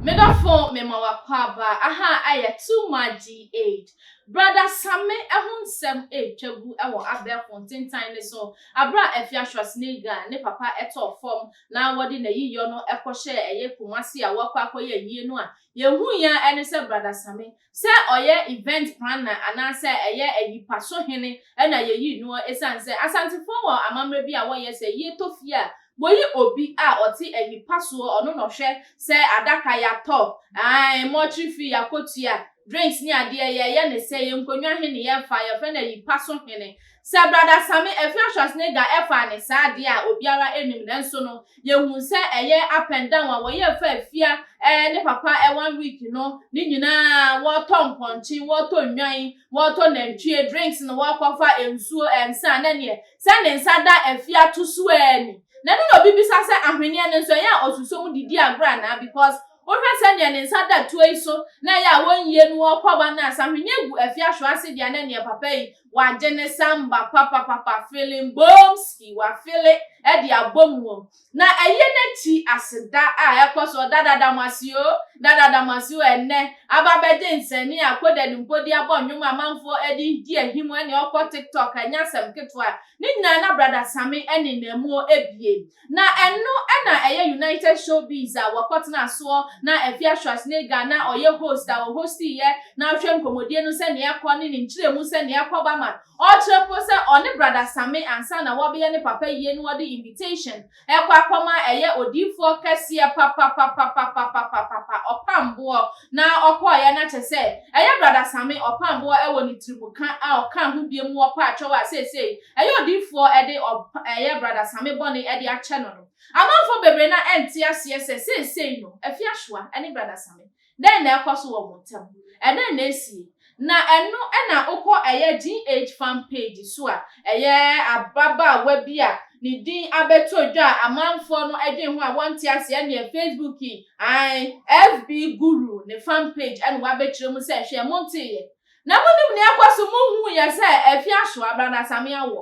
Medɔfo me ma w'akwaaba aha ayɛ too much GH. Brada Same ho nsɛm retwa gu wɔ abɛɛfo ntentan no so bere a Afia Schwarzenegger ne papa tɔɔ fam na wɔde n'ayiyɔ no kɔhyɛɛ ɛyɛ Kumasi a wɔakɔ akɔyɛ ayie no a yɛnhui ara ne sɛ Brada Same Sɛ ɔyɛ event planner anaasɛ ɛyɛ ayipaso hene na yɛyi noɔ ɛsiane sɛ Asantefoɔ wɔ amammerɛ bi a wɔyɛ sɛ yɛtɔ fie a wɔyi obi a ɔte ayipasoɔ ɔno na ɔhwɛ sɛ adaka yɛatɔ ae mortuary fee yɛakɔtua drinks ne adeɛ yɛyɛ ne sɛi nkonnwa he ne yɛfa yɛfrɛ no ayipaso hene Sɛ Brada Sami Efya Schwarzenegger ɛfaa ne saa adeɛ a obiara ɛnim nanso no yɛhuu sɛ ɛyɛ up and down a wɔyɛ fa Efya ɛɛ ne papa ɛɛ one week no ne nyinaa wɔɔtɔ mpɔnkye wɔɔtɔ nnwan wɔɔtɔ nantwie drinks no wɔɔkɔfa nsuo ɛɛ nsa na neɛ sɛ ne nsa da Efya to so ɛɛ ni na ɛno na obi bisa sɛ ahweneɛ no nso ɛyɛ a ɔsuso mu didi agorɔ anaa because wohwɛ sɛ neɛ ne nsa da tuo yi so na ɛyɛ a wɔnyie no wɔɔkɔ ba no a sɛ ahweneɛ gu Efya hwease deɛ na neɛ papa yi wagye ne samba papapapa feeling boomski wafele de abɔ mu o na ɛyɛ n'akyi aseda a ɛkɔ so dada damasi o dada damasi o ɛnɛ aba bɛgye nsɛnni a koda ne mpodi abɔ nnwom amanfoɔ ɛde di ahim ɛne ɔkɔ tiktok ɛnyɛ asɛm ketewa ne nyinaa na brada same ɛne na mu ebie Na ɛno na ɛyɛ United Showbiz a wɔkɔtenaa soɔ na Afia Schwarzenegger na ɔyɛ host a ɔhostiiɛ na ɔhwɛ nkɔmmɔdie no sɛdeɛ ɛrekɔ ne ne nkyerɛmu sɛdeɛ ɛrekɔ ba ma ɔrekyerɛ mpo sɛ ɔne Brada Same ansa na wɔabɛyɛ ne papa yie no wɔde invitation rekɔ akɔma ɛyɛ odiyifoɔ kɛseɛ papapapapapapapapa ɔpamboɔ na ɔkɔeɛ na kyɛ sɛ ɛyɛ Brada Same ɔpamboɔ wɔ ne tirimuka a ɔkaa ho biom wɔ Paakyɛw a seesei ɛyɛ odiyifoɔ de ɔb ɛyɛ Brada Same bɔne de akyɛ no no. Amanfoɔ bebree no a ɛnte aseɛ sɛ seesei no Afiahyua ne Brada Same, dɛn na ɛrekɔ so wɔ wɔn ntam? Ɛdɛn na ɛresie? Na ɛno na wokɔ ɛyɛ GH fan page so a, ɛyɛ ababaawa bi a ne din abɛtɔ dwa a amanfoɔ no dwen ho a wɔnte aseɛ ɛneɛ Facebook yi, ae, FB Guru ne fan page ɛna wabɛkyerɛ mu sɛ hwɛ monteeɛ? Na monim nea ɛkɔ so, monhuu yɛ sɛ afi aso a Bradasammy awɔ.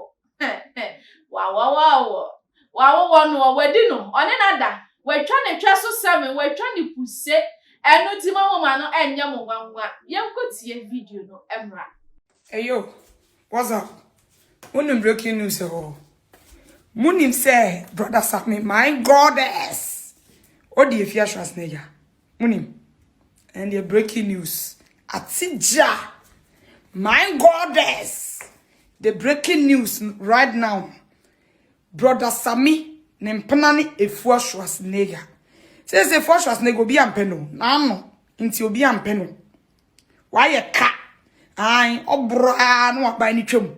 Wawɔwɔ awɔ. Wawowɔ no ɔ, wadi no, ɔne no ada, watwa ne twɛ so seven, watwa ne kuse, ɛno nti mo moma no ɛnyɛ mo nwanwa. Yɛnkɔtie video no mmra. Eyo, what's up? Wonim breaking news ɛwɔ hɔ. Monim sɛ Bradasammy, my goddess, ɔdi Effiasoase no agya. Monim, ɛndeɛ breaking news ate gya, my goddess, the breaking news right now, brother Sammy ne mpena ne Efua Schwarzenegger, seesei Efua Schwarzenegger obi ampɛ no, n'ano nti obi ampɛ no. wayɛ ka an ɔboro a na waban no twam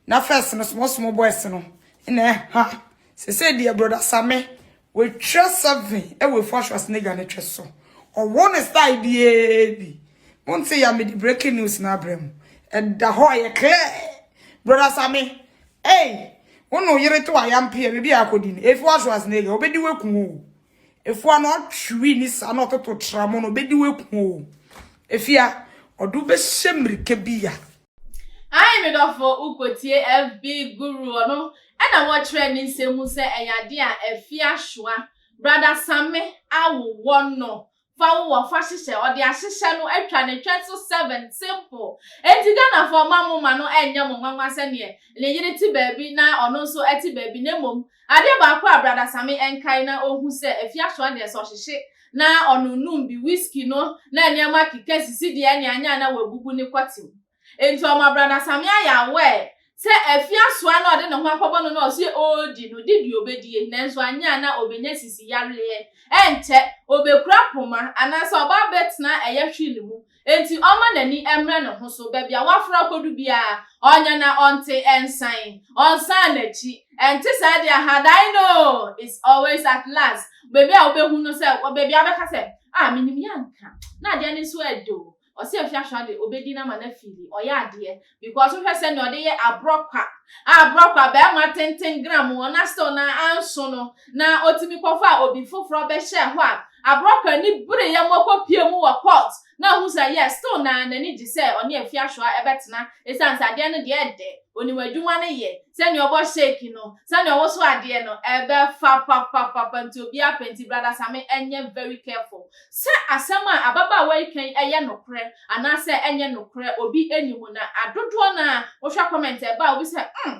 na first no small small boys no na ɛha sɛsɛ deɛ broda same wɔatwa seven ɛwɔ efu ahwɛ asenegya no twɛ so ɔwɔ ne style biara bi monte ya mede breaking news no abrɛ mu ɛda hɔ ɛyɛ clear broda same ei wo na oyere to ayampeɛ baabi a akɔdi no efu ahwɛ asenegya wɔbɛdi waku o Efua no atwiri ne saa na ɔtoto tramo no bedi weku o. Efia ɔde wo bɛhyɛ mmirika bi ya. Ae me dɔfo wokotie FB guru ɔno ɛna wɔkyerɛ ne nsɛm mu sɛ ɛyɛ adeɛ a Afia soa. Brada Samme a wowɔ no fa wo wɔ fa hyehyɛ ɔde ahyehyɛ no atwa ne twɛ so seven simple enti Ghanafoɔ mma mo ma no ɛnyɛ mo nwanwa sɛdeɛ ne yere te baabi na ɔno nso ɛte baabi na mmom adeɛ baako a Brada Same ɛnkae na ɔhu sɛ Afiasoa deɛ sɛ ɔhyehye na ɔnom nom bi whisky no na nneɛma keka sisi deɛ ɛne anyɛ a na wabubu ne kɔte mu Enti ɔma Brada Samia yɛ aware sɛ afi asoa na ɔde ne ho akɔbɔ no na ɔse ɔɔdi no de deɛ ɔbɛdie nanso anyɛ a na ɔbɛnya sisi yareɛ. Ɛnkyɛ, ɔbɛkura poma anaasɛ ɔba abɛtena ɛyɛ hwee no mu enti ɔmma n'ani mmra ne ho so. Baabi a waforo akɔdu biara, ɔnya na ɔnte nsan, ɔnsan n'akyi. Ɛnte saa deɛ a, had I know is always at last. Baabi a wobɛhu no sɛ, baabi a wobɛka sɛ, ah, menim yɛ anka na adeɛ no nso ɛɛdɛ o. Ɔse ahwɛ ahwɛ ade obedi no ama no afeeli ɔyɛ adeɛ because wohwɛ sɛnea ɔde yɛ abrɔkwa a abrɔkwa barima tenten gram wɔn na still na anso no na otumi kɔfaa obi foforɔ bɛhyɛɛ hɔ a abrɔkwa ani bere yɛ mo kɔ pie mu wɔ court na ohu sɛ yes still na n'ani gye sɛ ɔne afi ahwɛ ɛbɛtena esiane sɛ adeɛ no deɛ ɛdɛ onim adwuma no yɛ sɛnea ɔbɔ shake no sɛnea ɔwoso adeɛ no ɛbɛfa papapapa nti obiara pɛ nti brada same ɛnyɛ very careful Sɛ asɛm a ababaawa yi ka yi ɛyɛ nokorɛ anaa sɛ ɛnyɛ nokorɛ obi ɛnni mu na adodoɔ no ara wohwɛ comment a ɛba a wobisa sɛ hmm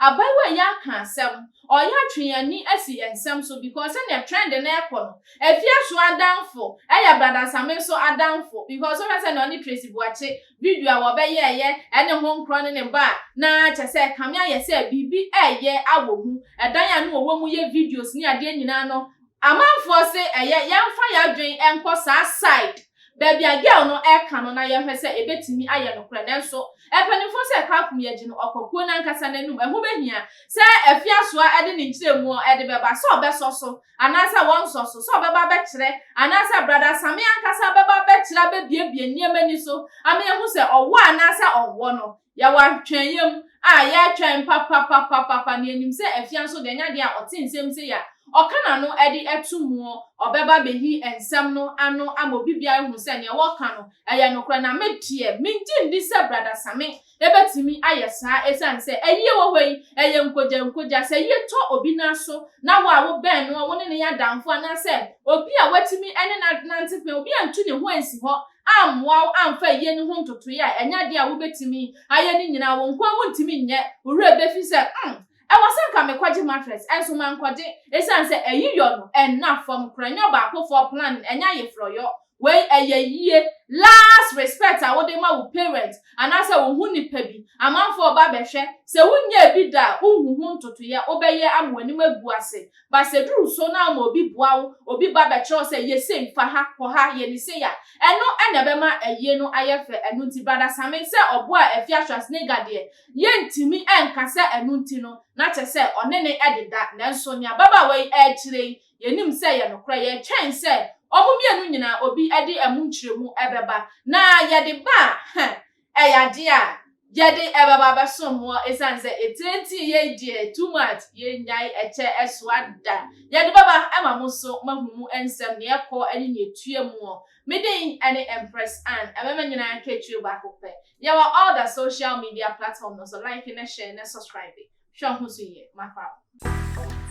abaayewa yi aka asɛm ɔreyɛ atwe yɛn ani asi yɛn nsɛm so because sɛdeɛ trend no ɛrekɔ no Afiaso adamfo ɛyɛ Bradansame nso adamfo because wohwɛ sɛdeɛ ɔne Tracy Boakye video a wɔbɛyɛɛyɛ ɛne ho nkorɔ ne ne ba a na kyɛ sɛ kame ayɛ sɛ biribi ɛreyɛ awɔ mu ɛdan a na wɔwɔ mu yɛ videos ne adeɛ nyinaa no Amanfoɔ se ɛyɛ yɛnfa yadwen nkɔ saa side baabi a girl no ɛka no na yɛhwɛ sɛ ɛbɛtumi ayɛ nokorɛ nanso mpanyinfoɔ se Kakum yɛgye no ɔkɔ kuo nankasa nanum ɛho bɛhia sɛ Afiasoa ɛde ne nkyerɛmuɔ ɛde bɛba sɛ ɔbɛsɔ so anaasɛ wɔnsɔ so sɛ ɔbɛba abɛkyerɛ anaasɛ Brada Same ankasa bɛba abɛkyerɛ abɛbiebie nneɛma ni so ama yɛahu sɛ ɔwɔ anaasɛ ɔnwɔ no Yɛwɔ atwɛnyɛ mu a yɛtwɛn papapapapapa, na yɛnim sɛ afia nso deɛ ɛnyɛ adeɛ a ɔte nsɛm sei a ɔka n'ano de to muo, ɔbɛba abɛhi nsɛm no ano ama obi biara ahunu sɛ deɛ wɔka no ɛyɛ nokorɛ. Na me deɛ, mennye nni sɛ Brada Same bɛtumi ayɛ saa ɛsiane sɛ ayie wɔ hɔ yi, ɛyɛ nkogyankogya. Sɛ ayie tɔ obi no aso na wo a wobɛn no a wo ne no yɛ adamfo anaasɛ obi a woatumi ne no anante pɛn, obi antu ne ho ansi hɔ ammoa wo amfa ayie no ho ntotoeɛ a ɛnyɛ adeɛ a wobɛtumi ayɛ no nyinaa a wo nko ara wontumi nyɛ, wo werɛ bɛfi sɛ, hmm, ɛwɔ sɛ anka mekɔgye mattress, nso mankɔgye, ɛsiane sɛ ayiyɔ no nna fam koraa, ɛnyɛ ɔbaakofoɔ planning, ɛnyɛ ayeforɔyɔ, wei ɛyɛ yie, last respect a wode ma wo parent anaasɛ wo ho nipa bi, amanfoɔ reba abɛhwɛ, sɛ wonyɛɛ bi da a wonhu ho ntotoeɛ a wobɛyɛ ama w'anim agu ase. Ba sɛ du ru so na ama obi boa wo, obi ba bɛkyerɛ wo sɛ yɛ sei, fa ha, kɔ ha, yɛ ne sei a, ɛno na ɛbɛma ayie no ayɛ fɛ. Ɛno nti Brada Same sɛ ɔboaa Afia Schwarzenegger deɛ, yɛntumi nka sɛ ɛno nti no, na kyɛ sɛ ɔne no ɛdeda. Nanso nea ababaawa yi ɛrekyerɛ yi, yɛnim sɛ ɛyɛ nokorɛ. Yɛretwɛn sɛ wɔn mmienu nyinaa obi de ɛmu nkyerɛmu ɛbɛba. Na yɛde ba a, heh, Ɛyɛ ade a yɛde bɛba abɛsom mo esiane sɛ etintii yɛn deɛ too much, yɛnnyae ɛkyɛ ɛsoa da. Yɛde bɛba ma mo nso moahu mu nsɛm, nea ɛkɔ ne nea etua mu. Me din ne Empress Anne, ɛmɛma nyinaa akatua baako pɛ. Yɛwɔ all the social media platform no so, like na share na subscribe. Hwɛ ho so yie, mafa wo.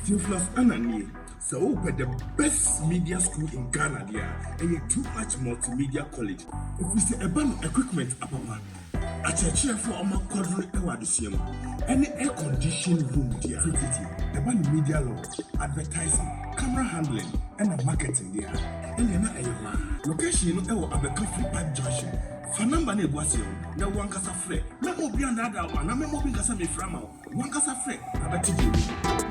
Theophilus Anna nie. Sɛ wopɛ the best media school in Ghana deɛ a, ɛyɛ Too Much Multimedia College. Ɛfiri sɛ ɛba no equipment apapa, akyerɛkyerɛfoɔ a wɔakwadwene wɔ adesua mu, ɛne air conditioned room deɛ a tititi. Ɛba no media law, advertising, camera handling ɛna marketing deɛ a, ɛnneɛ na ɛyɛ hɔ ara. Location no wɔ Abɛka Free Park Junction. Fa number no a egu aseɛ no na wo ankasa frɛ. Mɛma obi annaadaa wo anaa mɛma obi nka sɛ mefrɛ ama wo. Wo ankasa frɛ na bɛte deɛ w'ani.